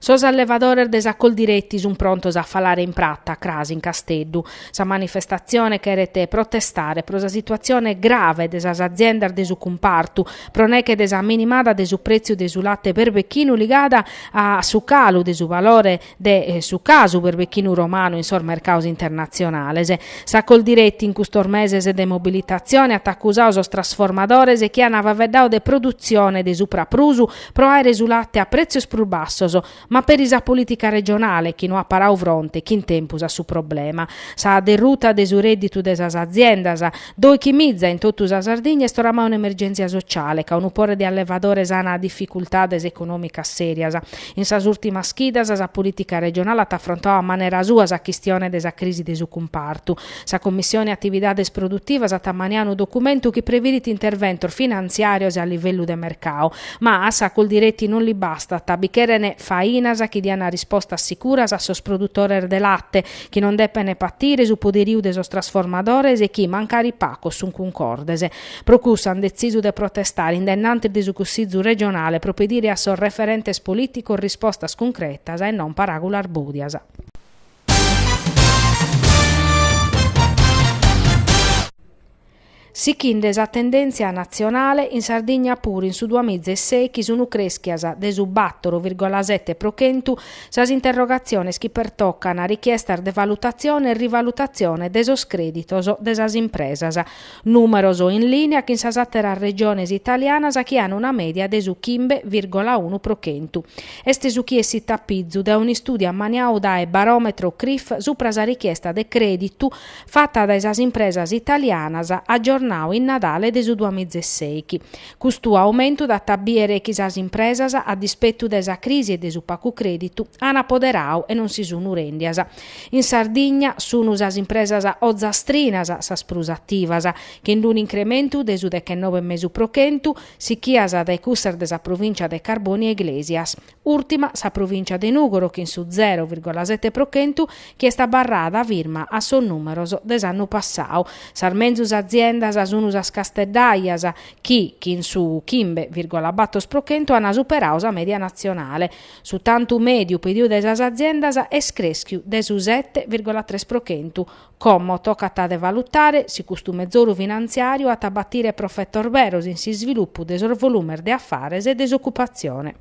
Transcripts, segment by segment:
Sos allevadores de sa Coldiretti sun prontos a falare in prata, cras in Casteddu. Sa manifestatzione cheret protestare pro sa situatzione grave de sas aziendas de su cumpartu, pro neghe de sa minimada de su prètziu de su late perbechinu ligada a su calu de su valore de su casu perbechinu romanu in sos mercados internatzionales. Sa Coldiretti in custos meses de mobilitatzione at acusadu sos trasformadores chi an faveddadu de produtzione de supraprus pro àere su late a prètzios prus bassos, ma peri sa polìtica regionale chi no at paradu fronte chin tempus a su problema. Sa derruta de su rèdditu de sas aziendas, doichi miza in totu sa Sardigna est oramai un'emergèntzia sociale ca unu pore de allevadores an dificultades econòmicas sèrias, In sas ùrtimas chidas sa polìtica regionale at afrontadu a manera sua sa chistione de sa crisi de su cumpartu. Sa Commissione Atividades Produtivas at ammaniadu unu documentu chi previdit interventos finantziàrios e a livellu de mercadu. Ma a sa Coldiretti non li bastat, bi cheren fainas chi diant rispostas sicuras a sos produtores de late, chi non depen patire su poderiu de sos trasformadores e chi, mancari pagos, sunt cuncordes. Pro cussu an detzisu de protestare in dennantis de su Cussizu regionale pro pedire a sos referentes polìticos rispostas cuncretas e non paràgulas bòdias. Sighende sa tendèntzia natzionale, in Sardigna puru in su duas miza e sèighi sunt crèschias de su bàtoro virgola sete pro chentu sas interrogatziones chi pertocant richiestas de valutatzione e rivalutatzione de sos crèditos de sas impresas. Nùmeros in lìnia chin sas àteras regiones italianas chi an una mèdia de su chimbe vìrgola unu pro chentu. Est su chi essit a pizu dae un'istùdiu ammaniadu dae Baròmetro Crif supra sa richiesta de crèditu fata dae sas impresas italianas agiornadu in Nadale de su duamiza e sèighi. Custu aumentu dat a bìdere chi sas impresas, a dispetu de sa crisi e de su pagu crèditu, an apoderadu e non si sunu rèndias In Sardigna sunu sas impresas ozastrinas sas prus ativas, chin d-unu incrementu de su dechenove e mesu pro chentu, sichias dae cussas de sa provìncia de Carbonia Iglesias. Ùrtima sa provìncia de Nùgoro chin su zero virgola sete pro chentu chi est abarrada firma a sos nùmeros de s'annu passadu. Sas menzus aziendas sunu sas casteddaias chi, chin su chimbe virgola bàtoro pro chentu, an superadu sa mèdia natzionale. Su tantu mèdiu pediu dae sas aziendas est crèschiu de su sete virgola tres pro chentu. Como tocat de valutare si custu mezoru finantziàriu at a batire profetos beros in s'isvilupu de sos volumes de afares e de s'ocupatzione.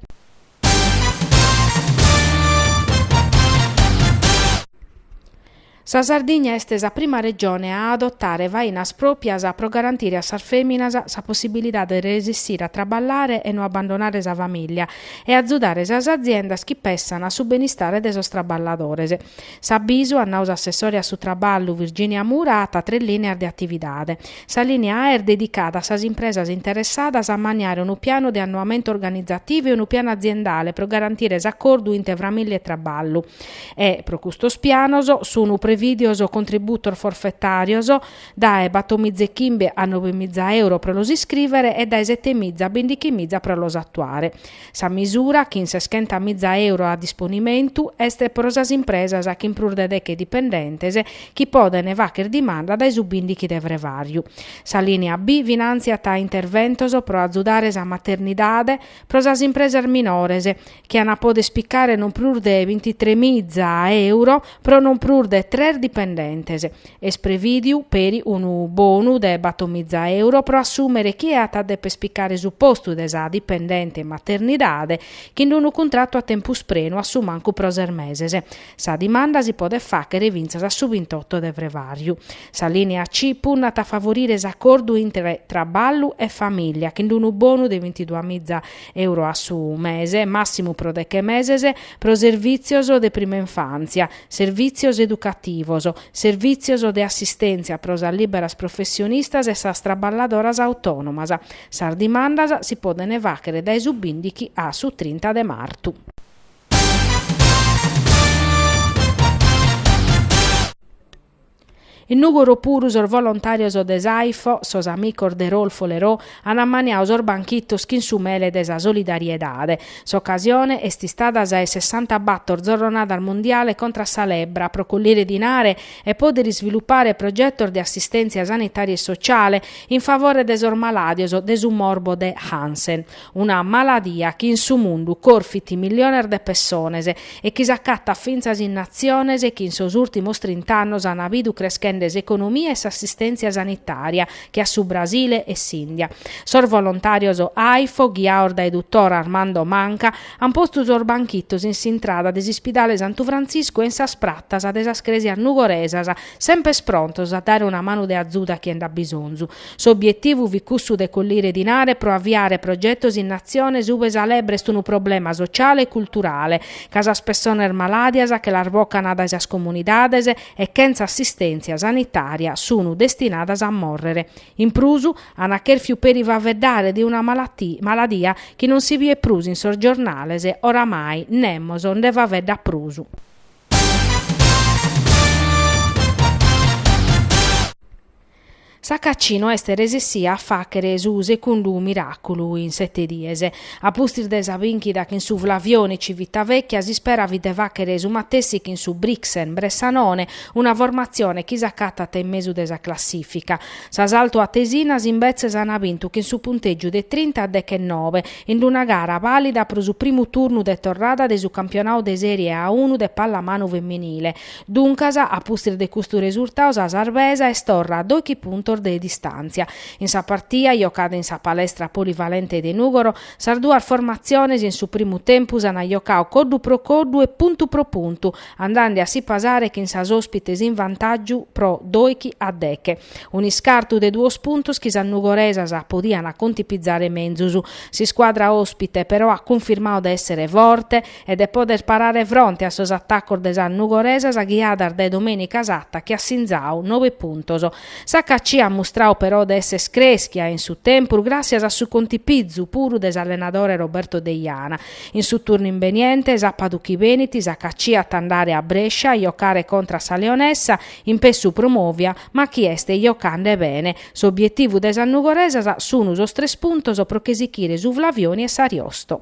Sa Sardigna est sa prima Regione a adotare fainas pròpias pro garantire a sas fèminas sa possibilidade de resessire a traballare e no abbandonare sa famìllia e azudare sas aziendas chi pensant a su benistare de sos traballadores. S'abisu, at nau s'assessore a su Traballu, Virginia Mura, at tres lìneas de atividade. Sa lìnea A est dedicada a sas impresas interessadas a maniare unu pianu de annoamento organizativo e unu pianu aziendale pro garantire s'acordu intre famìllia e traballu. E, pro custos pianos, sunu prevìdios contributos forfetàrios dae batomiza e chimbe a nobemiza euro pro los iscrìvere e dae setemiza a bindichimiza pro los atuare. Sa misura, chin seschentamiza euro a disponimentu, est pro sas impresas chin prus de deche dipendentes chi podent fàchere dimanda dae su bìndichi de frevàriu. Sa lìnia B finàntziat interventos pro azudare sa maternidade pro sas impresas minores chi an a pòdere spicare non prus de binti tres miza euro pro non prus de tres dipendentes. Est prevìdiu peri unu bonu de bator miza euro pro assùmere chie at a deper spicare su postu de sa dipendente in maternidade chin unu cuntratu a tempus prenu a su mancu pro ses meses. Sa dimanda si podet fàchere fintzas a su bintotto de frevàriu. Sa lìnia C punnat a favorire s'acordu intre traballu e famìlia chin unu bonu de bintiduamiza euro a su mese, màssimu pro deche meses, pro servìtzios de prima infàntzia, servìtzios educativos, servìtzios de assistèntzia pro sas lìberas professionistas e sas traballadoras autònomas. Sas dimandas si podent fàchere dae su bìndichi a su trinta de martu. In Nùgoro puru sos volontàrios de s'AIFO, sos amicos de Raoul Follereau, an ammaniau sos banchitos chin su mele de sa solidariedade. S'ocasione est istada sa 'e sessantabator Zorronada Mundiale contra a sa Lebbra pro collire dinare e pòdere isvilupare progetos de assistèntzia sanitària e sotziale in favore de sos malàdios de su morbo de Hansen. una maladia chi in su mundu corfit milliones de pessones e chi s'acatat fintzas in natziones chi in sos ùrtimos trint'annos ant bidu creschende s'economia e s'assistèntzia sanitària, che a su Brasile e s'Ìndia. Sos volontàrios AIFO, ghiaos dae dutor Armando Manca, ant postu sos banchitos in s'intrada de s'ispidale Santu Frantziscu e in sas pratas de sas crèsias nugoresas, sempes prontos a dare una manu de azuda a chie nd'at bisonzu. S'obietivu fit cussu de collire dinare pro aviare progetos in natziones ube sa lebbra est unu problema sociale e culturale ca sas pessones malàdias che las bocan dae sas comunidades e chentza assistèntzia sanitària sunu destinadas a mòrrere. In prus, ana chèrfiu peri faveddare de una maladia chi non si biet prus in sos giornales, oramai nemos nde faveddat prus. S'HAC no est resessìa a fàghere su segundu miràculu in sete dies. A pustis de sa bìnchida chin su Flavioni Civitavecchia s'ispera fit de fàghere su matessi chin su Brixen Bressanone, una formatzione chi s'acatat in mesu de sa classìfica. Sas altoatesinas imbetzes ant bintu chin su puntègiu de trinta a dechenobe, in una gara bàlida pro su primu turnu de torrada de su campionadu de Sèrie A unu de pallamanu feminile, Duncas, a pustis de custu resurtau sa sarbesa est torra a doighi puntos de distàntzia. In sa partia, jocada in sa palestra polivalente de Nùgoro, sas duas formatziones in su primu tempus ant jocau coddu pro coddu e puntu pro puntu, andende a si pasare chin sas òspites in vantàgiu pro doighi a deghe. Un'iscartu de duos puntos chi sas nugoresas podiant contipizare menzus. S'iscuadra òspite, però, at cunfirmau de èssere forte, e de poder parare fronte a sos atacos de sas nugoresas ghiadas dae Domenica Satta chi at sinzadu nobe puntos. S'HAC at mustradu però de esser crèschia in su tempus gràssias a su contipizu puru de s'allenadore Roberto Deiana. In su turnu imbeniente, sàpadu chi benit, s'HAC at a andare a Brescia a jocare contra a sa Leonessa, in pessu promòvia, ma chi est jocande bene. S'obietivu de sas nugoresas sunu sos tres puntos pro che sichire su Flavioni e s'Ariosto.